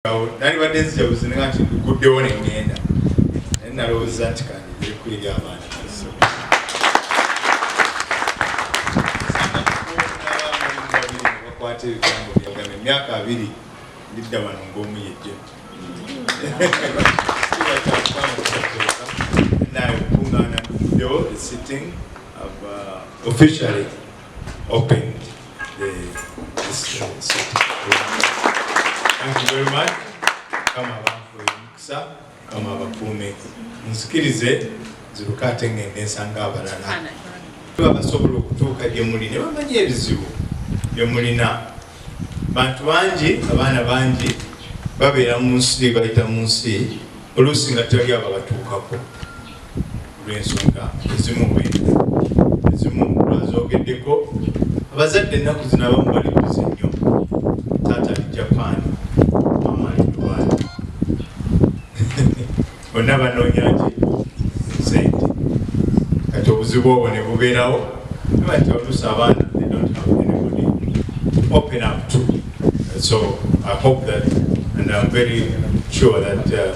awo nalibadde nzijabuzi nga nti guddewo ne ŋŋenda naye nalowooza nti kandi biriku eri abaana bakwata ebigambo byagamba emyaka abiri ndidda wano ng'omu yejja naye okukuŋŋaana nduguddewo sitting uh, officially opened kama abakuume nzikirize nziruka ate ngende nsanga abalala babasobola okutuuka gyemuli ne bamanya ebizibu byemulina bantu bangi abaana bangi babeera mu nsi bayita mu nsi oluusi nga tewali abo abatuukako olw'ensonga ezimu ezimu azoogeddeko abazadde ennaku zino abamu bali bize nnyo taata ali japan mama ali dubai bonna banoonya ki sente kati obuzibu obwo ne bubeerawo abati oluusi abaana they don't have anybody open up to so i hope that and i'm very sure that uh,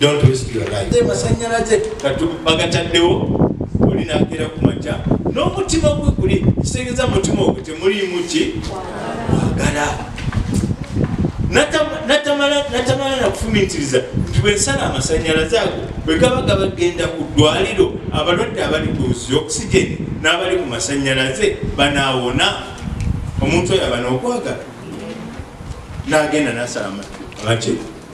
Don't waste your life. Te masanyalaze katu bagataddewo oli nagera ku makya n'omutima gwe guli kitegeeza mutima ogwo temuliimu ki kwagala natamala nakufumitiriza nti bwensala amasanyalaze ago bwegaba gabagenda ku ddwaliro abalwadde abali ku zi okisigeni n'abali ku masanyalaze banaawona omuntu oyo aba n'okwagala n'agenda nasala amaki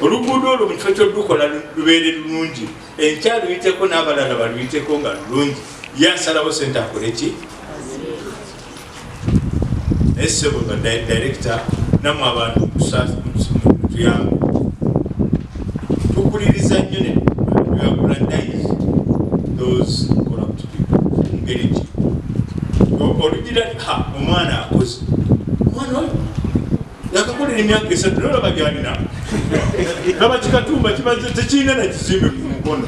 oluguudo olwo mu kifo kyodukola lubeere lulungi enkya luyiteko n'abalala baluyiteko nga lulungi ye asalawo sente akole ki naye sebo nga direkita namwe abantu tuyamba tukuliriza nnyo ne olugira omwana akoze yakakolera emyaka esatu naye olaba gyalina laba kikatumba kimaze tekirina na kizimbe ku mukono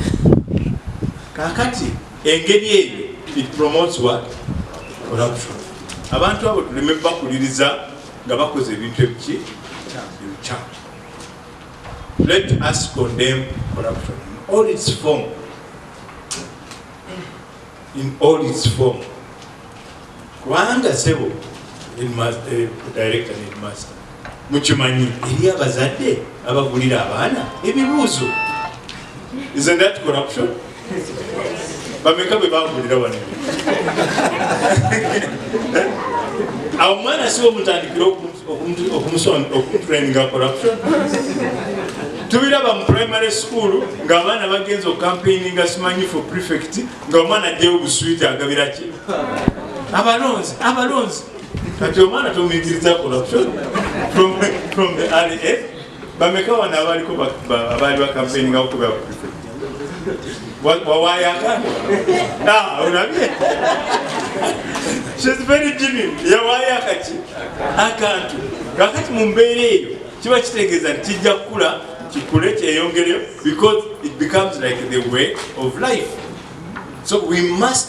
kakati engeri eyo it promotes what corruption abantu abo tuleme bakuliriza nga bakoze ebintu ebiki ebikyamu let us condemn corruption in all its form in all its form kubanga sebo eh, director ne headmaster mukimanyi eri abazadde abagulira abaana ebibuuzo isn't that corruption bameka bwe bagulira wano awo omwana siwo mutandikire oku okumutraininga corruption tubiraba mu primary school ng'abaana bagenza okukampeininga simanyi for prefect ng'omwana ajjayo obuswiti agabira ki abalonzi abalonzi kati omwana tomuyigiriza corruption from the early age bameka wano abaliko abaali bakampeininga okuga wawayaka ah, olabye shes very jimmy yawayaka ki akantu kakati mu mbeera eyo kiba kitegeeza nti kijja kukula kikule kyeyongereyo because it becomes like the way of life so we must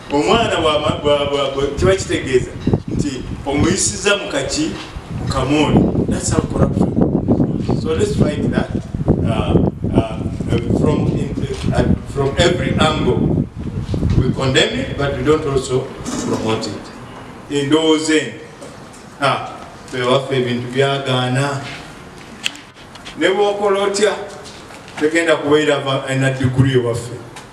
omwana kiba kitegeeza nti omuyisiza mukaki mukamooni that's how corruption so let's fight that uh, uh, from, in, uh, from every angle we condemn it but we don't also promote it endowooza eno ah, bewaffe ebintu byagaana ne bwokola otya tegenda kubeera na diguli ewaffe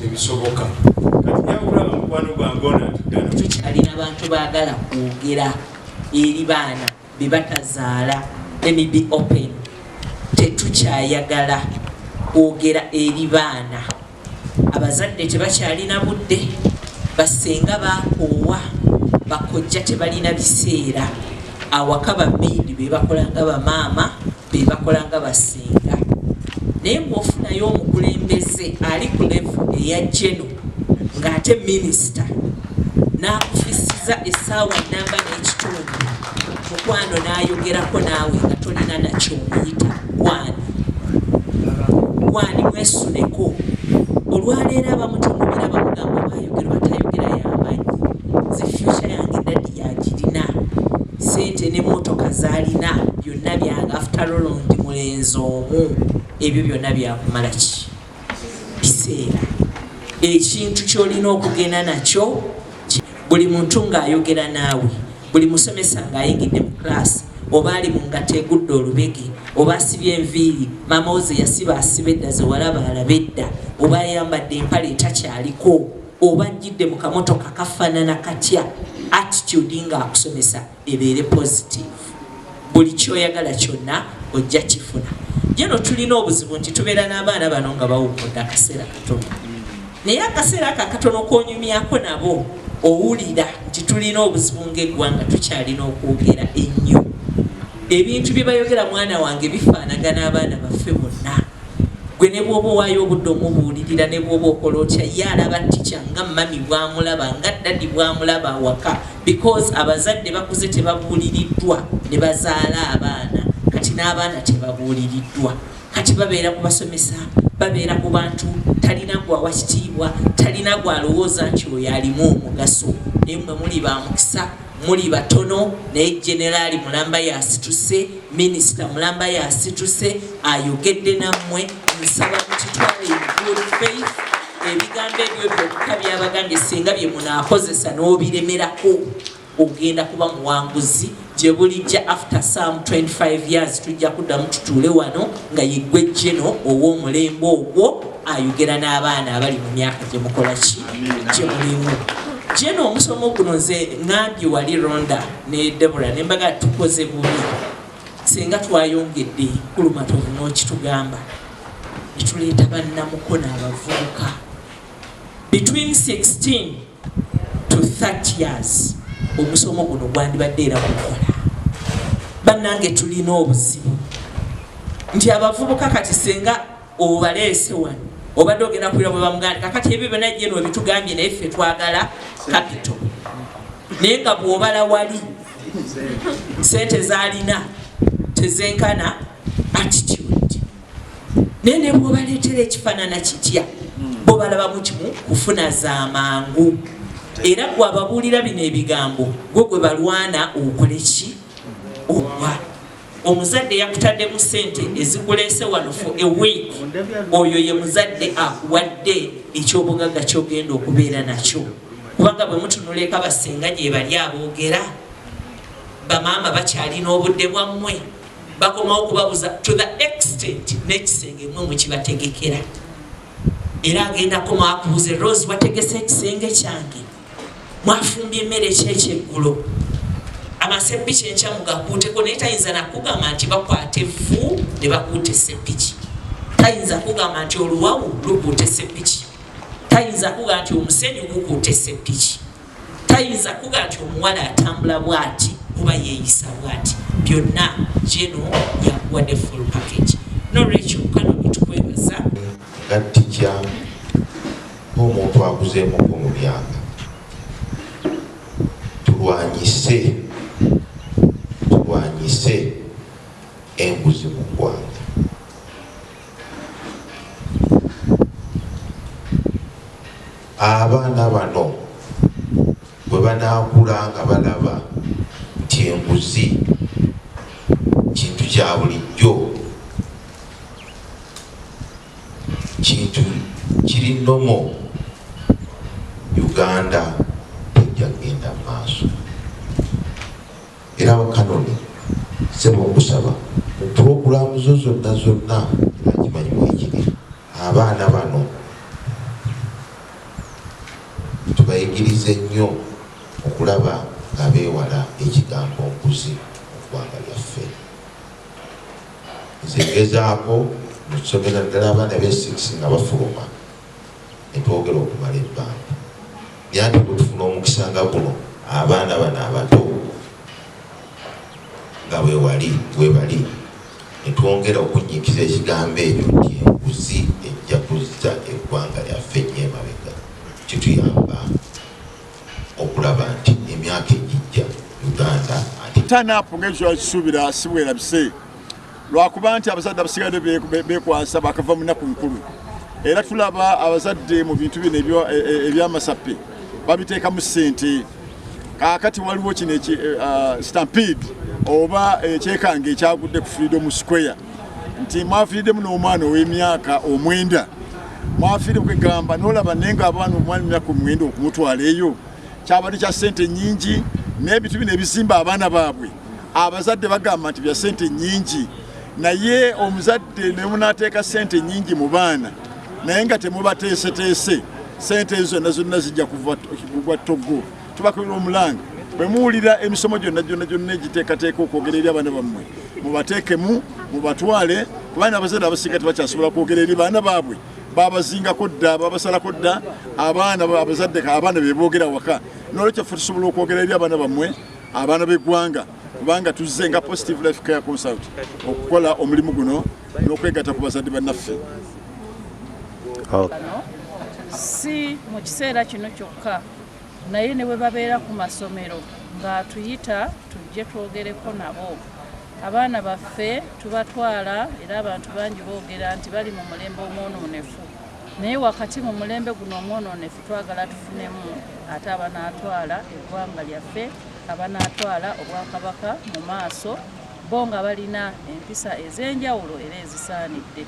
tebisoboka kati nyakulaba mukwano gwange onatugana tukyalina bantu bagala kwogera eri baana bebatazaala emib open tetukyayagala kwogera eri baana abazadde tebakyalina budde basenga bakoowa bakojja tebalina biseera awaka bamaidi bebakolanga bamaama bebakola nga basinga naye ngaofunayo omukulembeze ali ku levu eya geno ng'ate minisita n'akufisiza essaawa namba n'ekitundu mukwano n'ayogerako naawe nga tolina nakyomuyita gwani gwani mwesuneko olwaleero abamutunubira bamugamba bayogera batayogera yamanyi ze fyuca yange dadi yagirina sente ne motoka zalina Nabyange after all ndi mulenzi omu ebyo byona byakumala ki biseera ekintu kyolina okugenda nakyo buli muntu ng'ayogera naawe buli musomesa ng'ayingidde mu class oba ali mu ngata egudde olubege oba asibye enviiri maama woze yasiba asiba edda zewalaba alaba edda oba ayambadde empale etakyaliko oba ajjidde mu kamotoka kafaanana katya attitude ng'akusomesa ebeere positive buli kyoyagala kyonna ojja kifuna jeno tulina obuzibu nti tubeera n'abaana bano nga bawumudde akaseera katono naye akaseera ako akatono konyumyako nabo owulira nti tulina obuzibu ngaeggwanga tukyalina okwogera ennyo ebintu bye bayogera mwana wange bifaanagana abaana baffe bonna gwe ne bwoba owaayo obudde omubuulirira ne bwoba okola otya ye alaba tikya nga mami bwamulaba nga ddadi bwamulaba awaka because abazadde bakuze tebabuuliriddwa ne bazaala abaana kati n'abaana tebabuuliriddwa kati babeera ku basomesa babeera ku bantu talina gwawa kitiibwa talina gwalowooza nti oyo alimu omugaso naye mwe muli ba mukisa muli batono naye generaali mulamba yasituse minisita mulamba yasituse ayogedde nammwe nsaba mukitwale good faith ebigambo ebyo byokka byabagambye singa bye munaakozesa n'obiremerako ogenda kuba muwanguzi gye bulijja after some 25 years tujja kuddamu tutuule wano nga yeggwe jeno ow'omulembe ogwo ayogera n'abaana abali mu myaka gye mukola ki gye mulimu jeno omusomo guno nze ngambye wali ronda ne debora ne mbaga tukoze bubi Singa twayongedde ku Lumatovu n'okitugamba ne tuleeta bannamukono abavubuka between 16 to 30 years omusomo guno gwandibadde era gukola bannange tulina obuzibu nti abavubuka kati senga obaleese wano obadde ogenda kuira bwe bamuganda kakati ebyo byona jeno ebitugambye naye ffe twagala kapito naye nga bwobala wali sente zalina tezenkana attitude naye ne bwobaleetera ekifanana kitya bo balabamu kimu kufuna za mangu era gwe ababuulira bino ebigambo gwe gwe balwana okole ki owa omuzadde yakutaddemu sente ezikuleese wano for a week oyo ye muzadde akuwadde ekyobugagga kyogenda okubeera nakyo kubanga bwe mutunula eka basinga gyebali aboogera bamaama bakyalina obudde bwammwe bakomawo okubabuza to the extent n'ekisenge mwe mukibategekera era agenda komawo akubuze rose wategese ekisenge kyange mwafumbye emmere kyekyeggulo amaseppiki enkya mugakuuteko naye tayinza nakugamba nti bakwata evvu ne bakuuta eseppiki tayinza kugamba nti oluwawu lukuuta eseppiki tayinza kuga nti omusenyu gukuuta eseppiki tayinza kuga nti omuwala atambula bwati kuba yeeyisa bwati byonna geno yakuwadde full package nolwekyo kano bitukwebaza gattija ng'omuntu akuzeemuko mu myaka tulwanyise tulwanyise enguzi mu ggwanga abaana bano bwe banaakula nga balaba nti enguzi kintu kya bulijjo Kintu kiri nomo Uganda tejja genda maaso era wakanoni sebo okusaba mu pulogulaamu zo zonna zonna akimanyi mwekiri abaana bano tubayigirize nnyo okulaba nga beewala ekigambo nkuzi mu ggwanga lyaffe. nze ngezaako mukusomera ddala abaana be six nga bafuluma netwogera okumala ebbanga yanti bwetufuna omukisa nga guno abaana bano abato nga bwewali webali netwongera okunyikiza ekigambo ekyo nti enguzi ejja kuzza eggwanga lyaffe nyemabega kituyamba okulaba nti emyaka egijja Uganda ate turn up ng'ekyosuubira si bwerabise lwakuba nti abazadde abasigadde bekwasa bakava mu nnaku nkulu era tulaba abazadde mu bintu bino e, e, ebyamasappe babiteekamu ssente kakati waliwo kino eh, ah, stampede oba ekyekange eh, ekyagudde ku freedom square nti mwafiiriddemu n'omwana ow'emyaka omwenda mwafiire kwegamba nolaba naye nga abaana omwana emyaka omwenda okumutwala eyo kyabadde kya sente nyingi n'ebintu bino ebizimba abaana baabwe abazadde bagamba nti bya sente nyingi naye omuzadde nemunateeka sente nyingi mu baana naye nga temubateeseteese sente ezo zonna zonna zijja kugwa toggo tubakolera omulanga bwe muwulira emisomo gyonna gyonna gyonna egiteekateeka okwogera eri abaana bammwe mubateekemu mubatwale kubanga abazadde abasinga tebakyasobola kwogera eri baana baabwe babazingako dda babasalako dda abaana abazadde abaana beboogera waka nolwekyo ffe tusobola okwogera eri abaana bammwe abaana b'eggwanga kubanga tuzze nga positive life care consult okukola omulimu guno n'okwegatta ku bazadde bannaffe si mu kiseera kino kyokka naye ne bwe babeera ku masomero ng'atuyita tujje twogereko nabo abaana baffe tubatwala era abantu bangi boogera nti bali mu mulembe omwonoonefu naye wakati mu mulembe guno omwonoonefu twagala tufunemu ate abanaatwala eggwanga lyaffe abanaatwala obwakabaka mu maaso bo nga balina empisa ez'enjawulo era ezisaanidde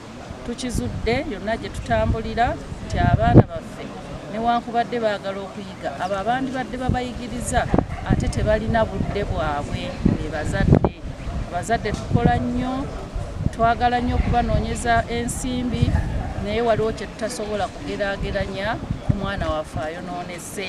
Tukizudde yonna gye tutambulira nti abaana baffe newankubadde baagala okuyiga abo abandibadde babayigiriza ate tebalina budde bwabwe be bazadde. Abazadde tukola nnyo, twagala nnyo okubanoonyeza ensimbi naye waliwo kye tutasobola kugeraageranya ku mwana waffe ayonoonese.